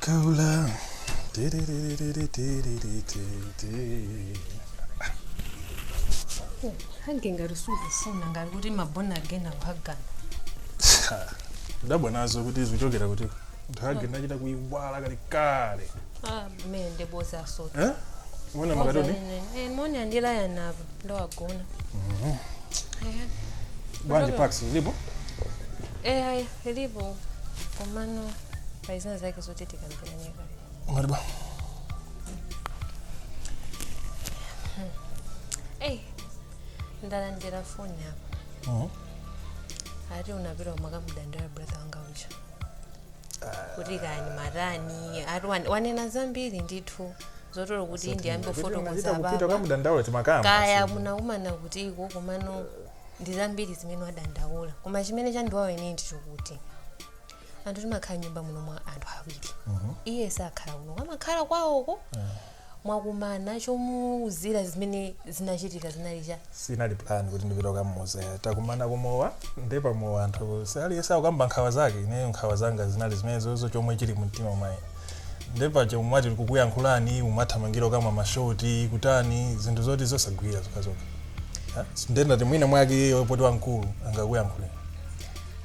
Cola. hange ngati sukufuna ngati kuti mabona akufuna kuhagana Dabwa nazo kuti zikuchokera kuti ndihage ndachita kuiwala kale kale. ah me ndeboza asati Eh? Uona makatoni? moni andilaya navo ndowagona Bwanji Pax zilipo? eya Lilipo komano pali zina zake zoti tikambirane kaye. ngati bwa Eyi, ndalandira foni apa. Mhm. Ati unapita kukamudandaulira brother wanga uja. Kuti kaya ndimatani, ati wan- wanena zambiri ndithu. Zoti olo kuti ndiyambe kufotokoza kupita baba. kamudandaula timakamba Kaya munakumana kuti iko komano ndi zambiri zimene wadandaula koma chimene chandiwawa ine ndichokuti anthu timakhala m'nyumba muno mwa anthu awiri iye sakhala kuno amakhala kwawoko mwakumana chomuuzira zimene zinachitika zinali cha sinali plan kuti ndipita kukamuuza takumana kumowa ndi pamowa anthu aliyense akukamba nkhawa zake ineyo nkhawa zanga zinali zimenezozo chomwe chili mumtima mwanga Nde paja ndimati ndikukuyankhulani mumathamangira okamwa ma shot kutani zinthu zoti zosagwira zokhazokha ah, nde ndati mwina mwake iyeyo poti wamkulu angakuyankhuleni.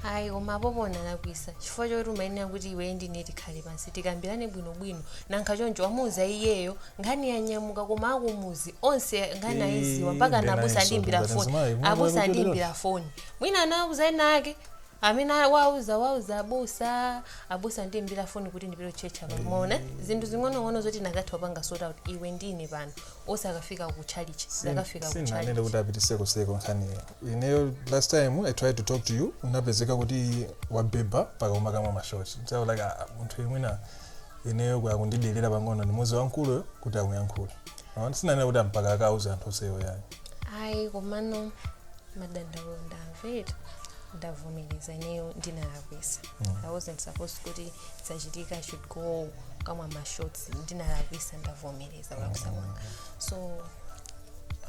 ayi koma apopo unalakwisa chifukwa choti umayenera kuti iwe ndine tikhale pansi tikambirane bwinobwino nanga choncho wamuuza iyeyo nkhani yanyamuka koma akumuzi onse nkhani ayiziwa mpaka Eh, ana abusa ndinayinso, andiimbira ngati foni mzimayi, mwana abusa wabwera andiimbira foni mwina anauza ena ake amene wauza wauza abusa abusa andiimbira foni kuti ndipite kutchetcha pano muona zinthu zing'onong'ono zoti tikanatha kupanga sort out iwe ndine pano osakafika ku chalichi zakafika ku sindinanene chalichi kuti apitise kutchetchiko nkhaniyo ineyo last time i tried to talk to you unapezeka kuti wabhebha mpaka umakamwa mashoti so I was like ah, munthu mwina ineyo akundidelera pang'ono ndimuuze wamkuluyo kuti akuyankhule Awa, sinanena kuti mpaka akauze anthu onsewo ayi ayi komano madandaulo ndawamvera ndavomereza ineyo ndinalakwisa i wasn't supposed kuti zikachitika I should go kamwa mashots ndinalakwisa ndavomereza kulakwisa kwanga so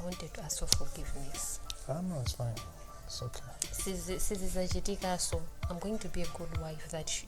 i wanted to ask for forgiveness Ah, no, it's fine. It's okay. Sizi- sizizachitikaso i'm going to be a good wife that sh-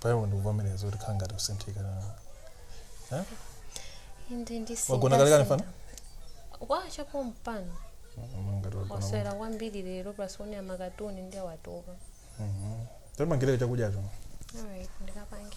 pa iwe ndikuvomereza kuti ukhala ngati usinthika Eh? inde ndisi wagona kale kale mfana kwacha pompano Mm, ngati wagona wasewera kwambiri lero plus waonera makatuni nde watopa tapangireko chakudyacho alright ndikapange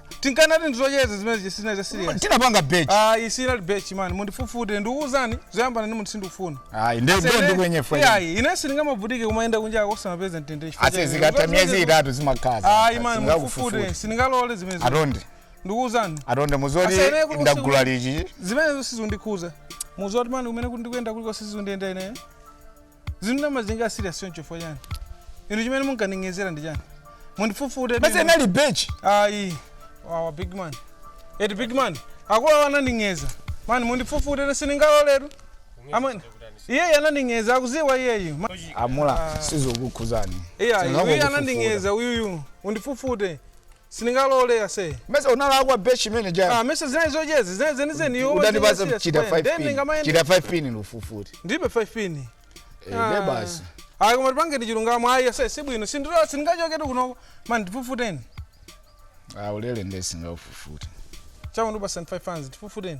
tinkanati ndizocheza zimene sizinali za serious tinapanga bet ayi sinali bet man mundifufute ndikuwuzani zoyambana ndi munthu sindikufuna ayi nde nde ndikwenye fwe ayi ine sindingamabvutike kumayenda kunja kosamapeza mtendere chifukwa ase cha- zikatha miyezi itatu zimakaza ayi man mundifufute sindingalole zimenezi atonde ndikuwuzani atonde muzoti Ase, ine kuti ndagula usiku- lichi zimenezo sizundikhuza muzoti mani kumene kuti ndikuyenda kuliko sizundiyenda ineyo zinthu ndimazitenga serious choncho chifukwa chani inu chimene munkaning'ezera ndi chani mundifufute basi anali bet ayi wawa big man eti big man akuluwa ananding'eza mani mundifufute ine sindingaloletu amani iyeyi ananding'eza akuziwa iyeyi Ma- amula sizokukhuzani iyayi Sindingakufufute. uyu ananding'eza uyuyu undifufute sindingalole ase mesa unalakwa be chimene cha ah mesa zinali zocheza zinali zenizeni iwe udandipasa kuchita 5 pin chita 5 pin ndikufufute ndilibe 5 pin eh ne ah. basi ayi koma tipangeni chilungamo ayi ase si bwino sindiro sindingachoketu kunoko man ndifufuteni ah ulele nde sindingakufufute chawo ndubasa 5 fans ndifufuteni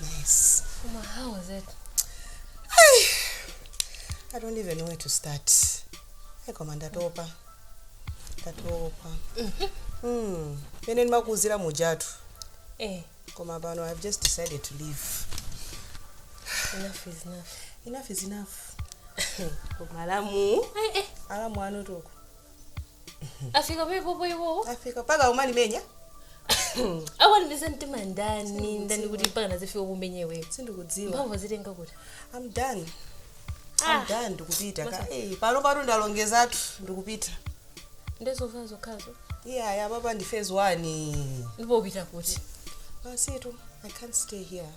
Nice. Koma how is it? I don't even know where to start. Hey, koma ndatopa. Ndatopa. Mm. Pene ndimakuzira mujatu. Eh, Koma pano I've just decided to leave. enough is enough. Enough is enough. Koma alamu. Eh, eh. Alamu anotoko. afika pepopo iwowo afika mpaka umanimenya awanimisa mtima ndani ndani kuti mpaka nazifika kumenya iweyo sindikudziwa mphamvu azitenga kuti am done Ah. am done ndikupita ka Masa- Eh, pano pano ndalongezatu ndikupita nde zovala zokhazo iyaya papa ndi phase one ndipo upita kuti basitu i can't stay here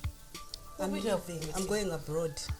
I'm Upita leaving. I'm going abroad.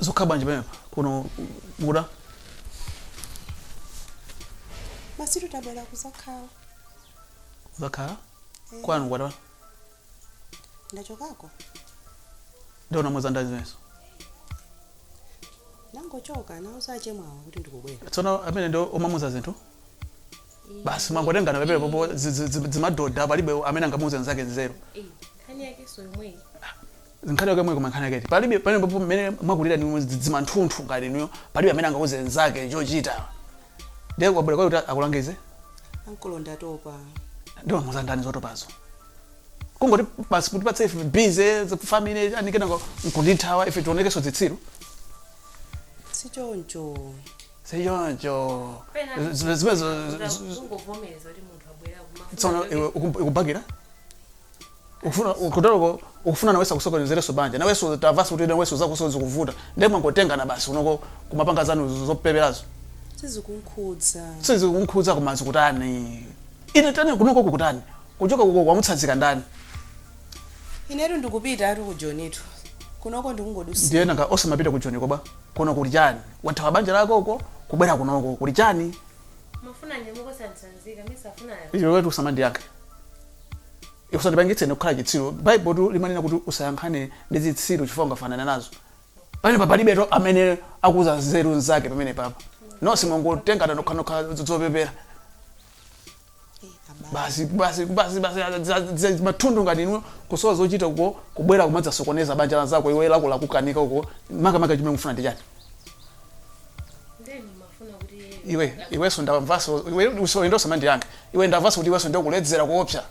zukhala bwanji pamenepa kuno muda basi ndabwera kuzakhala kuzakhala kwanu kwata ndachokako ndiye unamuza ndani zimenezo ndangochoka ndauza achemwawa kuti ndikubwera tsono amene ndi omamuza zinthu basi mwangotengana pepele popo zi- zi- zi- zimadoda palibe amene angamuuze nzake nzeru nkhani yakenso yomweyi nkhani yake mweko koma nkhani yaketu palibe pamenepopo mmene mwakulira ni dzima nthunthu ngati inuyo palibe amene angauze nzake chochita ndiye wabwera kwa iwo kuti akulangize ankolo ndatopa ndiye wamuza ndani zotopazo kungoti basi kuti upatse ife busy family anikena nkundithawa ife tionekenso zitsiru sichoncho sichoncho zimenezo ungovomereza kuti munthu abwera kumafuna tsono kuti- iwe uku- ukubakira ukufuna kutaloko ukufuna nawenso akusokonezereso banja nawenso tamvanso kuti nawenso zakuso zikuvuta ndiye mwangotengana basi unoko kumapanga zanu zopeperazo sizikunkhudza sizikunkhudza koma zikutani ine tani kunoko kukutani kuchoka kuko wamutsanzika ndani inetu ndikupita ati kujonitu kunoko ndikungodusa ndiye nanga osamapita ku joni koba Kuno kuli chani? Wathawa banja lako uko kubwera kunoko kuli chani? Mwafuna kunyamuka osantsanzika, mesa afuna awa. Iwetu usamandiyankhe. Usandipangitse ine kukhala chitsiru. Baibulotu limanena kuti usayankhane ndi zitsiru chifukwa ungafanane nazo. Pamenepa palibetu amene akuuza nzeru mnzake pamenepapa. Nonse mwangotengana nokhanokha zopepera. basi basi basi basi za- za- za- mahule ngati inu kusowa zochita uko kubwera kumadzasokoneza banja la anzako iwe lako lakukanika uko makamaka chimene mufuna ndi chani ndeni mafuna kuti iwe iweso ndamvaso iwe usoyenda usamandiyankhe iwe ndamvaso kuti iweso ndokuledzera kuopsa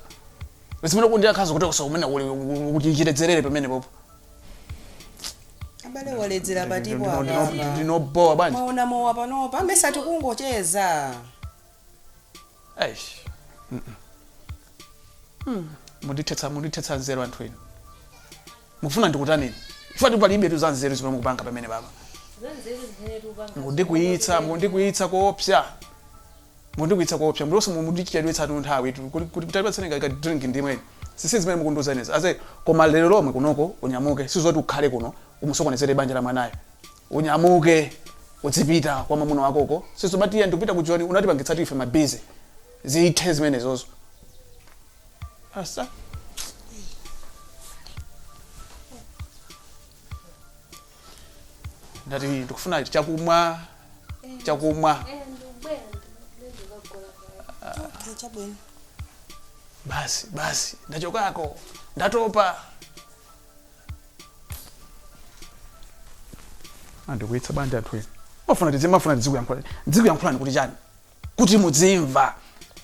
zimene ukundiyankhazo kuti usakumene kuti chiledzerere pamene popo abale waledzera patipo apapa ndinobowa bwanji maona mowa panopa amesa tikungocheza eish mm -mm. mukundithetsa mundithetsa nzeru anthu inu mufuna ndikutaneni ifati palibetu za nzeru zimene mukupanga pamenepapa mundikwiyitsa mundikwiyitsa koopsa mundikwiyitsa koopsa mlonse mundichedwetsatu nthawitu kuti kuti tandipatseni ka drink ndimwe ine sisi zimene mukundiuza inezi ase koma lero lomwe kunoko unyamuke sizoti ukhale kuno umusokonezere banja la mwanayo unyamuke udzipita kwa mwamuna wakoko sizomati iye ndikupita ku joni unatipangitsatu ife mabizi zithe zimenezozo asa Ine ndati ndikufuna chakumwa chakumwa Okay, chabwino. basi basi ndachokako ndatopa mwandikwiyitsa bwanji anthu inu mafuna tizi mafuna tizikuyankhulani tizikuyankhulani kuti chani kuti mudzimva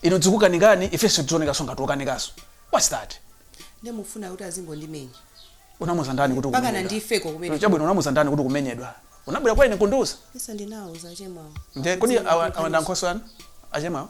inu dzikukanikani ifenso tionekeso ngati okanikaso what's that ndimufuna kuti azingondimenya unamuza ndani kuti Mpaka ukumenyedwa? nandifeko kumene. chabwino unamuuza ndani kuti ukumenyedwa unabwera kwa ine kundiuza isa ndinawuza chemwawo nde kodi awa awa ndi ankhoswe anu achemawo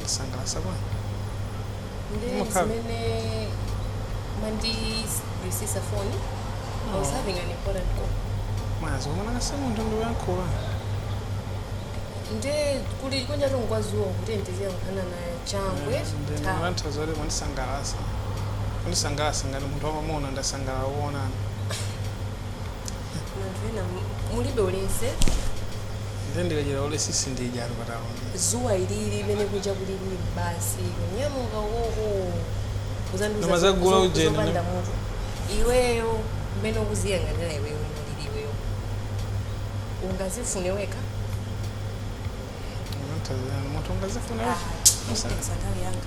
Ndasangalala bwana. Ndiye Mukhala. zimene mwandisiyitsa foni. I was having an important call. Mwazi wamwana se munthu ndi woyankhula. Ndiye kuli kunja tungodziwa kuti ndiziyankhulana na changwe. Ndi ta- mwana zoti kundisangalasa. Kundisangalasa ngati munthu wamamuna ndasangalala kuonana. Anthu inu mu- mulibe ulese Nde ndikachita ulesi ndidya anthu patawo. dzuwa lilili mmene kunja kulili basi kunyamuka ukoko kuzandiuza Koma zagula zo- zo- ujeni, zopanda ndi mutu iweyo mmene ukuziyang'anira iweyo mulili iweyo ungazifune wekha Munthu azina- munthu ungazifuna. Ah, mukunditayisa nthawi yanga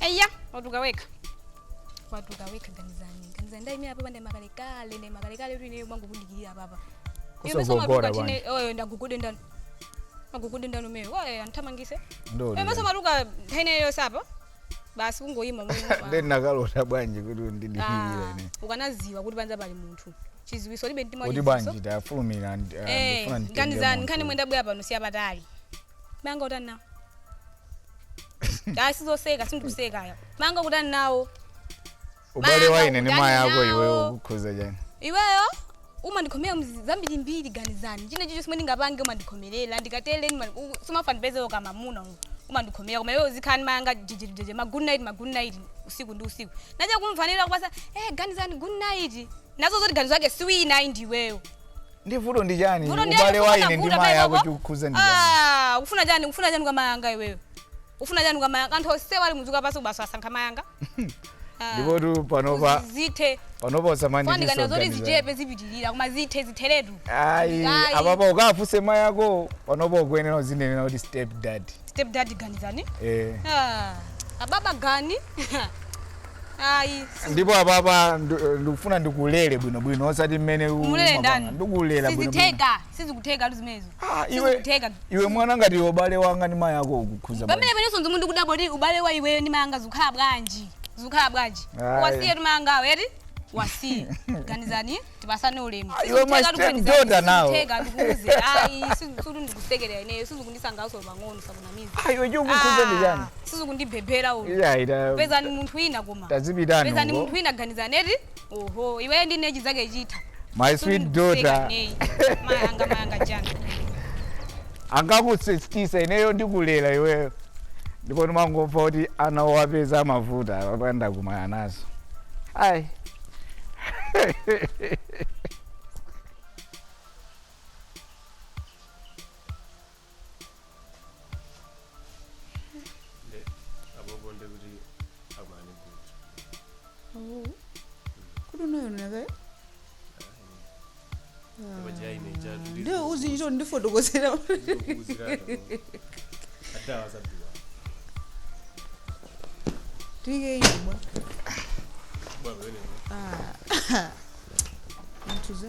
eya watuka wekha watuka wekha ganizani ganizani ndaimira apapa ndaimakalekale ndaimakalekale kuti ineyo ndimangokudikirira apapa osagogoda bwanji. oyo ndigogode ndani magugudu ndani ameneyo oye anthamangise Ndoli. maso matuka nthawi yonse apa basi kungoyima Ndeni nakalota bwanji kuti ndidikirire ine. ukanaziwa kuti panza pali munthu chiziwitso ulibe mtima Kuti wachiziwiso. bwanji tafulumira ndi- ah, Eh, ndifuna nditenge nkhani zanu munthu. nkhani imene ndabwera pano siyapatali mayi anga ukutani nawo ayi sizoseka sindikuseka ayi mayi anga ukutani nawo ubale wa ine ndi Mama, mayi ako udani iweyo nawo. ukukhuza chani iweyo umandikhomera zambirimbiri ganizani china chilichonse chomwe ndingapange umandikhomerera ndikatere sumafuna ndipeze kamamuna uyu umandikhomera koma iwe uzikhala ndi mayanga jejejeje ma good night ma good night usiku ndi usiku nacha kumvanira kupasa eh ganizani good night nazo zoti ganizo yake siwina ayi ndiweyo ndi vuto ndi chani Vuto ndi ubale yako, wa ine ndi unavuta mayi pale ako pako. chikukhuza ndi chani Ah, ufuna chani ufuna chani kwa mayanga iweyo ufuna chani kwa mayanga anthu onsewa ali mdziko lapansi ukasa- ukasankha mayanga Ah, ndipotu panopa kuzi- zithe panopa usamanditese fandikana zoti zichepe zipitirira koma zithe zitheretu ayi Ayi. apapa ukafunse mayi ako panopa ukuyenera uzinena kuti step dad step dad ganizani eh. Ah, ababa gani ayi ndipo apapa ndu- ndikufuna ndikulere bwinobwino osati mmene u- Umulere mapanga. ndani? ndikulela bwinobwino sizitheka sizikuthekatu zimenezo Ah, iwe sizikutheka iwe mwana ngati iwe ubale wanga ndi mayi ako ukukhuza bwanji? pamene inenso nzomwe ndikudabwa kuti ubale wa iweyo ndi mayanga zikukhala bwanji zikukhala bwanji Ayi. wasiye tu mayangawo eti uwasiye ganizani tipasane ulemu Ah, iwe my step daughter nawo. ndikuuze ayi sikuti ndikusekerera ineyo sizikundisangalatsa pang'ono asakunamize Ah, iwe chikukhuza ndi chani sizikundibhebhera ulo Iya, ita- pezani munthu wina koma tazipitani pezani uko. munthu wina ganizani eti oho iweyo ndi ine sizikutheka My sweet daughter. neyi mayanga mayanga jana anakusiya ineyo ndikulera iweyo ndipo ndimangomva kuti ana owapeza amavuta apa ndakumana nazo ayi Nde, apopo nde kuti akumane kuti Oh. Kudu nayo naka. paja ine chatu Nde uzi njo ndifotokozera. adawa zabiwa Tike imwa. baba wenene Ah. Mtuza.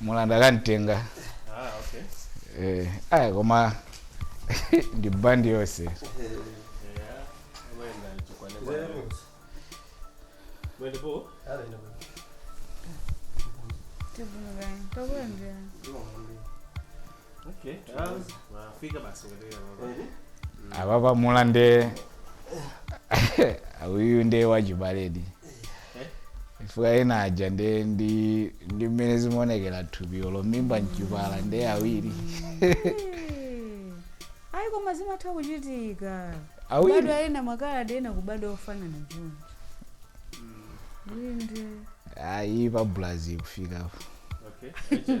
mulanda kantenga ah, okay. eh, aya koma ndi bandi yonse apapa mulande uyu nde wachibaledi chifukwa ana aja nde ndi ndi mmene zimaonekera thupilo la mimba mchipatala nde awiri ayi koma zimatha kuchitika Awiri. kubadwa ena makaladi ena kubadwa ofanana choncho inde ayi pa brazil kufikapo Okay.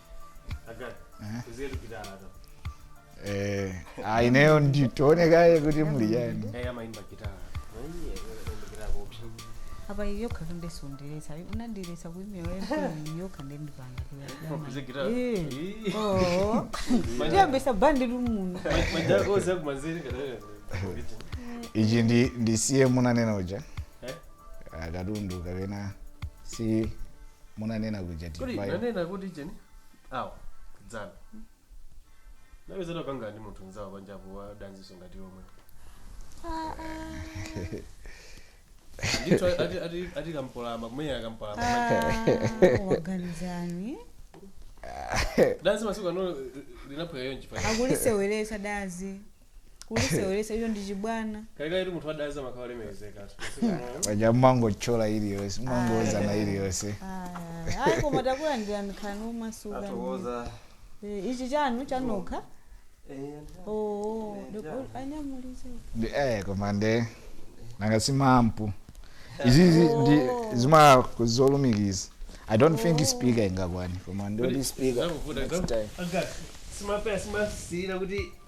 Eh, ah, ineyo nditani kaye kuti muli bwanji apa iyo khalu ndesonderesa unandiresa kuimira yempe iyo khande ndipanga Kuze guitar. Ih. tiyambitsa bandi muno ichi ndisiye munanena uja Eh? akatundu kapena si munanena kuja Kodi tivayo nanena kuti cheni? Awa dzana anapezedwa akukangana ndi munthu mnzawo panjapo wa dazinso ngati iwo omwewo. Ndithu ati ati ati kampolama kumenyana kampolama. Ah, waganizani dazi masiku ano linaphweka yonchi pa. akuliseweretsa dazi kuliseweresa icho ndi chibwana kalekale munthu wadazi amakhala lemekezeka paja mumangothyola iliyonse mumangouzana iliyonse Aya, ayi koma takulandirani khalani omasuka tathokoza Eh, ichi chanu chanokha oo anyamulise ndi eh koma nde nanga si ma amp izizi ndi zimazolumikiza i don't think speaker ingakwane koma ndoti speaker next time simapereka simasiyira kuti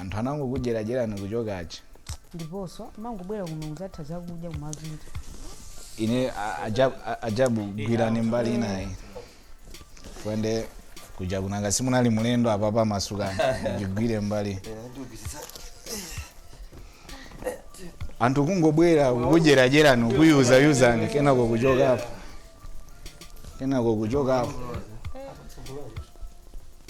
Anthu anangokudyeradyerani kuchoka. ndiponso amangobwera kuno kudzatha zakudya kumapita ine a- aja- a- ajabu gwirani mbali inayi kwendakoja nanga simunali mlendo apapa masukani ndigwire mbali anthu kungobwera kukudyeradyerani kukuyuzayuzani kenako kuchokapo kenako kuchokapo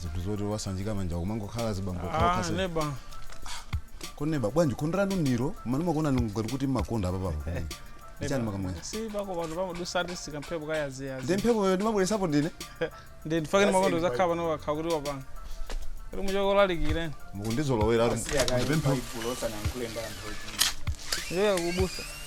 zinthu zoti osanjika manja kumangokhala zibambo Ah, khakasa neba koma neba bwanji khonde lanu ndi lomweli ndimakuonani ngati kuti mumakonda apa papa pamene ichani mumakamwera si pako pano pamadutsa kamphepo kayaziyazi ndi mphepoyo ndimabweresapo ndine ndi ndifake ni mumakonda kudzakhala pano wakhala kuti wapanga kuti muchoke olalikire mukundizolowera Asiya kaye ndipemphe Baibulo usanayankhule ndi anthu ochi. ndiye kubusa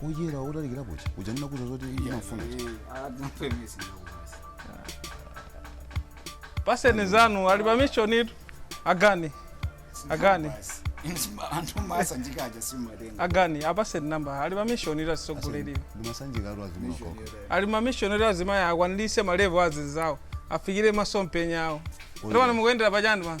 kuyera utalikira kuti uja ndinakuuza zoti ndimafuna ma pen azanu ali pa mission itu agani agani anthu masa njikaja simatenga agani apaseni namba ali pa mission itu asisogoleriwe ndimasanjika anthu azimakoko ali ma mission itu azimayi akwaniritse malevo anzawo afikire masomphenya awo Oyo. ndipo pano mukuyendera pachani pano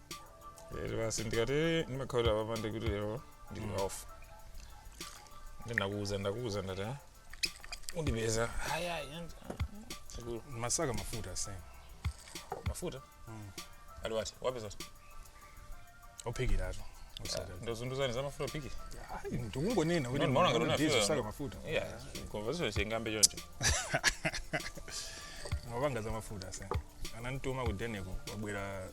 lero basi ndikati ndimakhaulira apapa ndikuti lero ndili Mm. off ndinakuuza ndakuuza ndati "Ah, undipeza ayayi sikuti umasaka mafuta asene mafuta Mm. ali wati wapeza mafuta ophikiratu ndozunduzani za mafuta ophikira ndikungonena kuti Ndimaona ngati unafika. ndizosaka mafuta iya conversation chingambe choncho umapanga za mafuta asene anamtuma ku deniko wabwera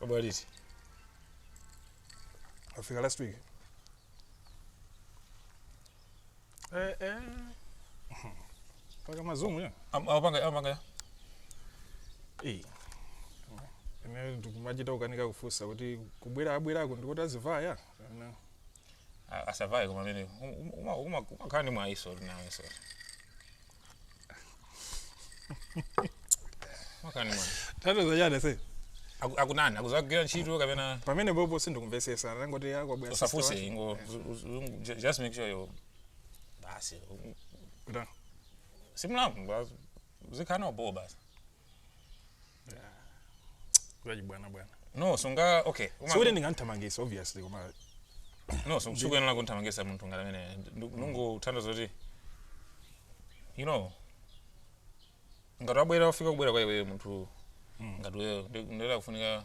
Wabwera liti? Afika last week. Eh eh. Mpaka mazumu ya. Am- Amapanga amapanga ya. Eh. Ine ndikumachita kukanika kufunsa kuti kubwera abwerako ndikuti azivaya. Ana. A- asavaye koma mmene um- uma- uma- umakhala ndi mwayiso uli nawe so umakhala ndi mwayi tatoza chani se Aku- akunani akudzagwira ntchito kapena pamene bobo sindikumvesesa anangoti akubwera usafunse ingo zu- zu- zu- ju- just make sure yo basi si mlamu uzikhala nawo bo basi kulaji bwana bwana no sunga okay Uma- sikuti ndinganthamangisa obviously koma no so sikuyenera kumthamangisa munthu ngati amene ndikungothandiza zoti you know ngati wabwera wafika kubwera kwa iweyo munthu ngati iweyo ndi wofunika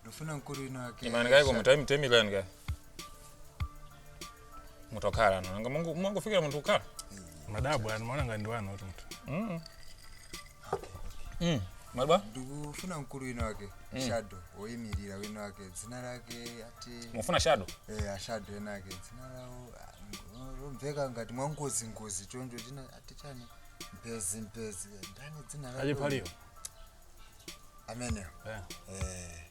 ndikufuna mkulu wina wake imani kaiko mutime temulani kaye mutokhala no nanga mungo mungofikira munthu kukhala madala wanu mumaona ngati ndiwanu kuti munthu mm mm madwa ndikufuna mkulu wina wake shado woyimirira wina wake dzina lake ati mufuna shadow eh, ashado ena ake dzina lawo ah, lomveka ngati mwangozi ngozi choncho china ati chani mpezi mpezi ndani dzina lake? achipaliwo ameneyo Yeah. eh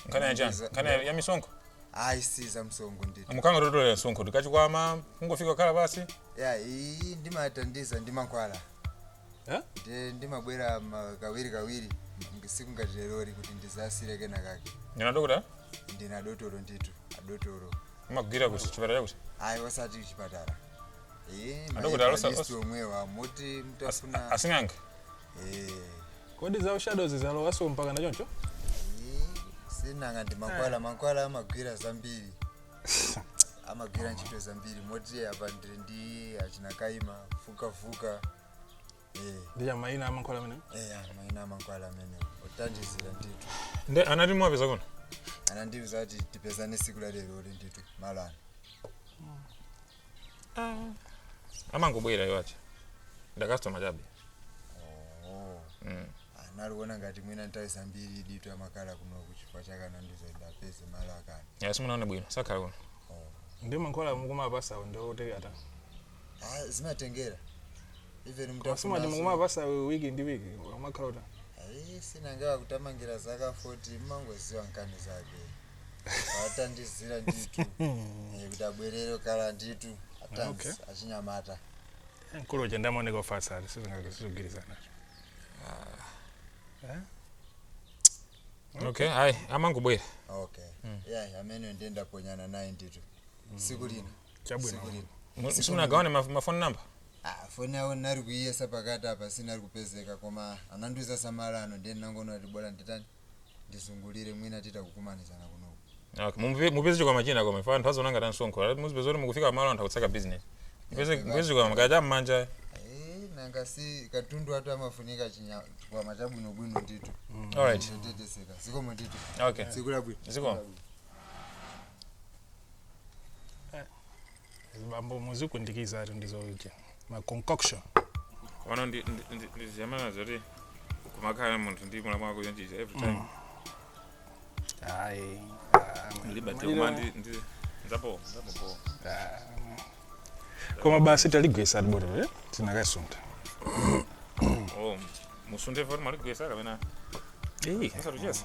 nkhani ya chani nkhani ya- ya misonkho ayi si za msonkho nditu mukamatolera msonkho tikachikwama kungofika kukhala pansi ya iyi ndimathandiza ndi mankhwala Eh? ndiye ndimabwera ma- kawiri kawiri ngi- siku ngati leroli kuti ndizasiye kena kake ndina dokota ndina dotolo nditu adotolo mumagwira kuti chipatala chakuti ayi osati chipatala Adokotala osa- osa- omwewa omwe timati asing'anga kodi za ushadows zalowaso mpakana choncho sinanga ndi mankhwala mankhwala amagwira zambiri amagwira ntchito zambiri moti apa ndiri ndi achina kaima fukafuka eh, ndi chamaina amankhwala amene eh, amaina amankhwala amene othandizira ndithu nde anati mwapeza kuno anandiuza kuti tipezane siku la lero uli ndithu malani amangobwera iwowa ndi a customer chabe Mm. analiona ngati mwina nthawi zambiri nditu amakhala kuno chifukwa chakana ndizoenda pese malo akana ya simunawaone bwino sakhala kuno ndi mankhwala mukumapasa ndo tekata Ah, zimatengera even masimati mukumapasa wiki ndi wiki amakhala uta ayi sinangawa kutamangira zaka 40 mumangoziwa nkhani zake atathandizira nditu Eh, kuti abwerere kale nditu Okay. atanzi achinyamata mkulu uja nde amaoneka ofatsa ali sizingazigwirizana okay ayi amangobwera okay yeah amene ndiye ndaphonyana naye nditu siku lina Chabwino. siku lina Mu- simunagawane maf- mafoni namba Ah, foni awo nali kuyiyesa pakati apa sinali kupezeka koma anandiuza za malo ano ndiye nangoona kuti bola nditani ndizungulire mwina titha kukumanizana kunoku Okay, mumve- mupeze chikwama china koma ife anthu aziwona ngati ansonkho Ati muzipeza kuti mukufika malo anthu akutseka business mupeze Yeah, mupeze chikwama kaya cha mmanja Eh, nanga si katundu wathu amafunika chinya- chikwama chabwinobwino ndithu alright chotetezeka zikomo ndithu okay tsiku labwino zikomo azibambo muzikundikizatu ndizoje ma concoction omweno ndi- ndi- ndi- ndi zoyambana zoti kumakhala munthu ndi mulamu wako kuonjeza every time hayi ndilibadze koma ndi- ndi- ndapo ndapo koma basi taligwesa ati botolo eh? tinakasunta oh musunthe poti mwaligwesa kapena musatuchesa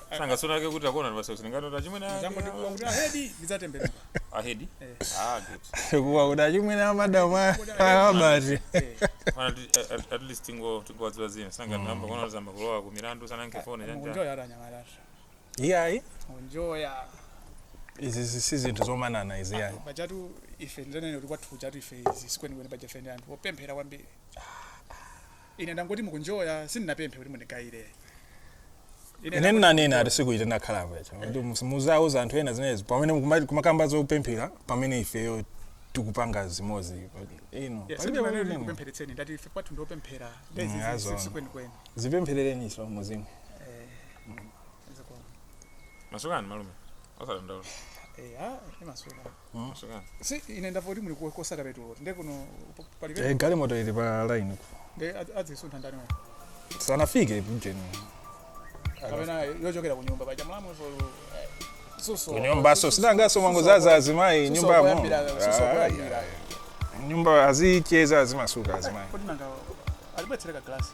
Sanga sura yake kuti akuona basi usiku uno a chimwene. Jambo ndikuwa kuti ahedi ndidzatembenuka. Ahedi? Ah, good. Kumva kuti achimwene a madam abati. Mana at least tingo tingo wadziwa dzina. Sanga mm. namba kuona zayamba kulowa ku Milandu sana nke phone janja. Ukunjoya nyamara. Iyayi. Ukunjoya. Izi si zinthu zomanana izi yayi. Pajatu ife ndinene kuti kwathu ku churchtu ife izi sikweni kwene paja ife ndi anthu opemphera kwambiri. Ah. Ine ndangoti mukunjoya sindinapemphe kuti mundigaire. Ine ndangoti ndinanena mukunjoya. ati sikuti ine ndakhalako yacho kuti mus- muzauza anthu ena zimenezo pamene mukuma- kumakamba zopemphera pamene ifeyo tikupanga zimozi izi Yes, palibe sindinanena kuti pamene- ndikupempheretseni ndati ife kwathu ndiopemphera Mm, azoona. ndezikwenikweni zipemphereleninso muzimuka Masukani malume. Osadandaula. eya imasuka si ine ndamva kuti muli kosaka petulo nde kuno palibe eh, galimoto ili pa line nde azisuntha ndani wa sanafike ujeni kapena yochokera kunyumba paja mlamu so eh, suso kunyumba so sinanga so mwangozaza azimayi nyumba mo mnyumba azicheza azimasuka azimayi kodi nanga alibetsereka glasi